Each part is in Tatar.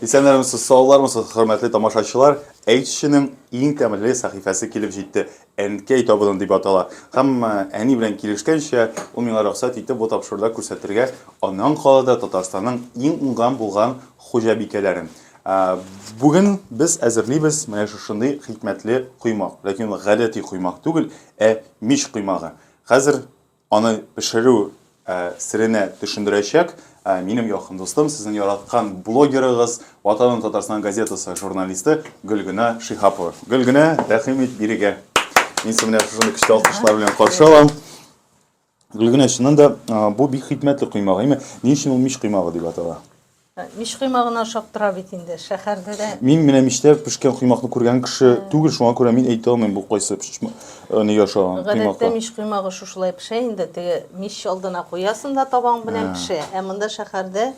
Исәннәрмесез, саулармысыз, хөрмәтле тамашачылар! Әйтүченең иң тәмле сәхифәсе килеп җитте. Әнкәй табыны дип атала. Һәм әни белән килешкәнчә, ул миңа рөхсәт итте бу тапшыруда күрсәтергә аның калада Татарстанның иң уңган булган хуҗабикәләрен. Бүген без әзерлибез менә шушындый хикмәтле коймак. Ләкин ул гадәти коймак түгел, ә мич коймагы. Хәзер Аны пешерү серенә төшендерәчәк минем якын дустым, сезнең яраткан блогерыгыз, Ватаным Татарстан газетасы журналисты Гөлгенә Шихапова. Гөлгенә, рәхим ит бирегә. Мин сине менә шушындый көчле алкышлар белән каршы алам. Гөлгенә, чыннан да бу бик хикмәтле коймак, әйме? Ни өчен ул мич коймагы дип атала? Мич койма гына ашап тора бит инде, шәһәрдә дә. Мин менә мичтә пешкән коймакны күргән кеше түгел, шуңа күрә мин әйтә алмыйм бу кайсы пешмә- э, нигә ошаган Гадәттә коймакка. мич коймагы шушылай пешә инде, теге мич алдына куясың да табаң белән пешә. Ә монда шәһәрдә,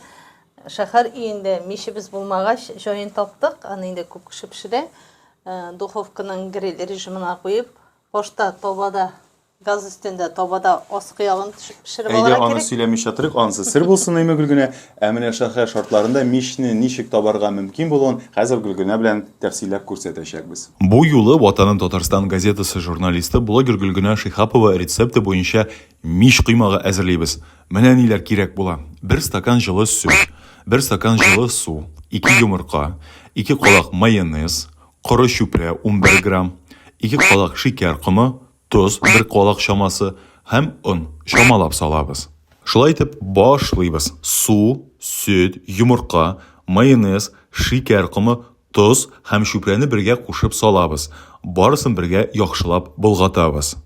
шәһәр өендә мичебез булмагач, җаен таптык, аны инде күп кеше пешерә. Э, Духовканың гриль режимына куеп, башта табада Газ өстендә табада аскы ягын төшеп пешереп алырга кирәк. Әйдә, аны сөйләмичә торыйк, анысы сер булсын, әйме, Гөлгенә? Ә менә шәһәр шартларында мичне ничек табарга мөмкин булуын хәзер Гөлгенә белән тәфсилләп күрсәтәчәкбез. Бу юлы Ватаным Татарстан газетасы журналисты, блогер Гөлгенә Шиһапова рецепты буенча мич коймагы әзерлибез. Менә ниләр кирәк була. Бер стакан җылы сөт, бер стакан җылы су, ике йомырка, ике калак майонез, коры чүпрә, унбер грамм, ике калак шикәр комы, тоз, бер калак чамасы, һәм он, чамалап салабыз. Шулай итеп, башлыйбыз. Су, сөт, йомырка, майонез, шикәр комы, тоз һәм чүпрәне бергә кушып салабыз. Барысын бергә яхшылап болгатабыз.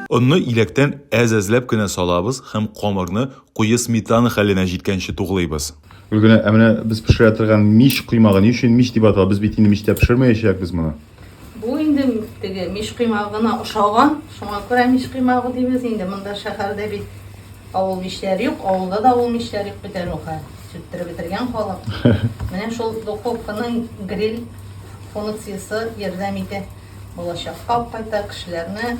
Онны иләктән әз-әзләп кенә салабыз һәм камырны Куе сметана хәленә җиткәнче туглыйбыз. Гөлгенә, ә менә без пешерә торган мич коймагы ни өчен мич дип атала? Без бит инде мичтә пешермәячәкбез моны. Бу инде теге мич коймагына ошаган, шуңа күрә мич коймагы дибез инде. Монда шәһәрдә бит авыл мичләре юк, авылда да авыл мичләре юк бит әле ул хәл. Сүттереп бетергән халык. Менә шул духовканың гриль функциясе ярдәм итә. Балачакка ук кайта, кешеләрне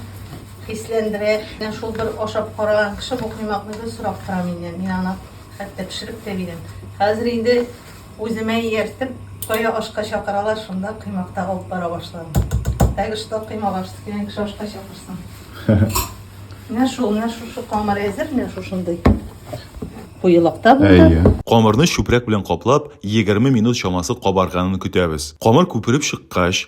хисләндерә. Менә шул бер ашап караган кеше бу коймакны гел сорап тора миннән. Мин аны хәтта пешереп тә бирәм. Хәзер инде үземә ияртеп, кая ашка чакыралар, шунда коймакта алып бара башладым. Так что коймак аш дигән кеше ашка чакырсын. Менә шул, менә шушы камыр әзер, менә шушындый. Куелыкта булды. Әйе. Камырны чүпрәк белән каплап, 20 минут чамасы кабарганын көтәбез. Камыр күпереп чыккач,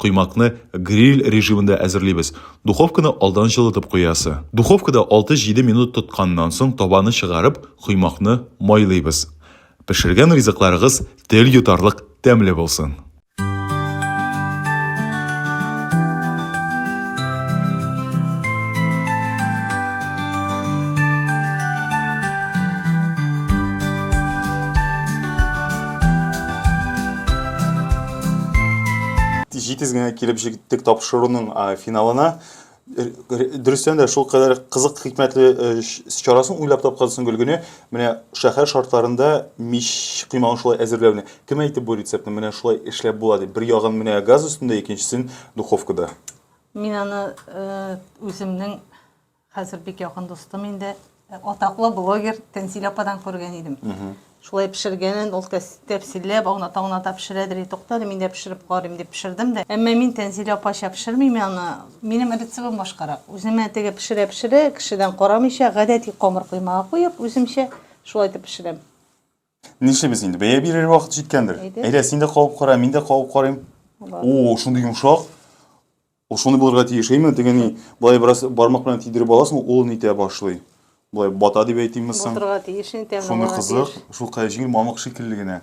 Коймакны гриль режимында әзерлибез. Духовканы алдан җылытып куясы. Духовкада 6-7 минут тотканнан соң табаны чыгарып, коймакны майлыйбыз. Пешергән ризыкларыгыз тел йотарлык тәмле булсын! Җитез генә килеп җиттек тапшыруның финалына. Дөрестән дә шул кадәр кызык хикмәтле э, чарасын уйлап тапкансың Гөлгенә. Менә шәһәр шартларында мич коймагын шулай әзерләүне. Кем әйтеп бу рецептны? Менә шулай эшләп була дип. Бер ягын менә газ өстендә, икенчесен духовкада. Мин аны э, үземнең Хәзер бик якын дустым инде э, атаклы блогер Тәнзилә ападан күргән идем. Шулай пешергәнен ул тәфсилләп, аунат аунатап пешерәдер и туктады, мин дә пешереп карыйм дип пешердем дә. Әмма мин Тәнзилә апача пешермим аны. Минем рецебым башкарак. Үземә теге пешерә пешерә, кешедән карамыйча, гадәти камыр коймага куеп, үземчә шулай итеп пешерәм. Нишлибез инде? Бәя бирер вакыт җиткәндер. Әйдә, син дә кабып кара, мин дә кабып карыйм. О, шундый йомшак. О, шундый булырга тиеш. Әйме, тегени, болай бераз бармак белән тидереп аласың, ул нитә башлый. Болай бата дип әйтимме соң? Батырга тиеш, инде тәмле Шундый кызык, шул кая җиңел мамык шикелле генә.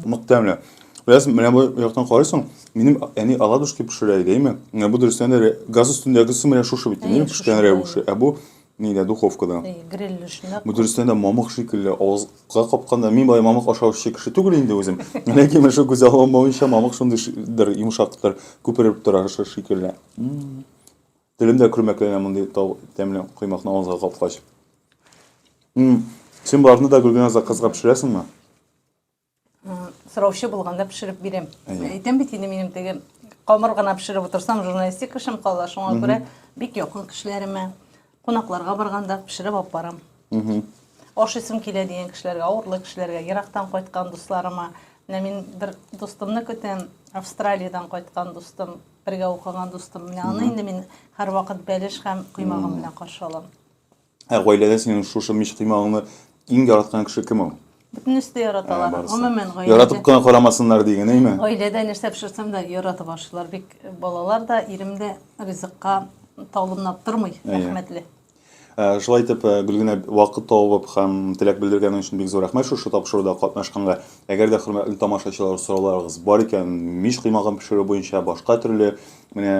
Нык тәмле. Без менә бу яктан карыйсың, минем әни оладушки пешерә иде, әйме? Менә бу дөрестән дә газ өстендәгесе менә шушы бит, әйме, пешкән рәвеше. Ә бу Нидә, духовкада? Эй, гриль эшенә. Бу дөрестән дә мамык шикелле авызга капканда. Мин болай мамык ашаучы кеше түгел инде үзем. Ләкин менә шул күзәл алмавынча мамык шундыйдыр, йомшактыр, күпереп тора шикелле. Телем дә көрмәкләнә мондый тәмле коймакны авызга капкач. Син боларны да Гөлгенә заказга пешерәсеңме? сораучы булганда пешереп бирәм. Әйтәм бит инде минем теге камыр гына пешереп утырсам, журналистик эшем кала, шуңа күрә бик якын кешеләремә, кунакларга барганда пешереп алып барам. Ашыйсым килә дигән кешеләргә, авырлы кешеләргә, ерактан кайткан дусларыма. Менә мин бер дустымны көтәм, Австралиядән кайткан дустым, бергә укыган дустым. Менә аны инде мин һәрвакыт бәлеш һәм коймагым белән каршы алам. Ә гаиләдә синең шушы мич коймагыңны иң яраткан кеше кем ул? Бөтенесе дә яраталар. Гомумән гаиләдә. Яратып кына карамасыннар диген, әйме? Гаиләдә нәрсә пешерсәм дә яратып ашыйлар. Бик балалар да, ирем дә ризыкка талымнап тормый, рәхмәтле. Шулай итеп, Гөлгенә вакыт табып һәм теләк белдергәнең өчен бик зур рәхмәт шушы тапшыруда катнашканга. Әгәр дә хөрмәтле тамашачылар сорауларыгыз бар икән, мич кыймагын пешерү буенча башка төрле, менә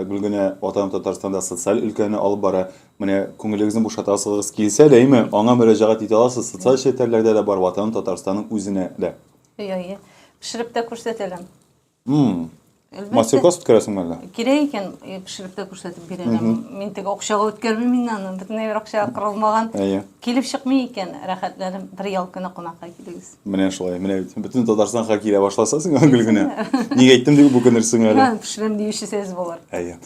Гөлгенә Ватаным Татарстанда социаль өлкәне алып бара, Менә күңелегезне бушатасыгыз килсә дә, әйме, аңа мөрәҗәгать итә аласыз. Социаль челтәрләрдә дә бар ватаным Татарстанның үзенә дә. Әйе, әйе. Пешереп тә күрсәтәләм. Мастер-класс үткәрәсеңме әллә? Кирәк икән, пешереп тә күрсәтеп бирәләм. Мин теге акчага үткәрмим мин аны. Бөтенләй бер акча кырылмаган. Әйе. Килеп чыкмый икән, рәхәтләнеп бер ял көне кунакка килегез. Менә шулай. Менә бит бөтен Татарстанга килә башласа сиңа гел генә. Ник әйттем дип үкенерсең әле. Пешерәм диюче сез булыр. Әйе.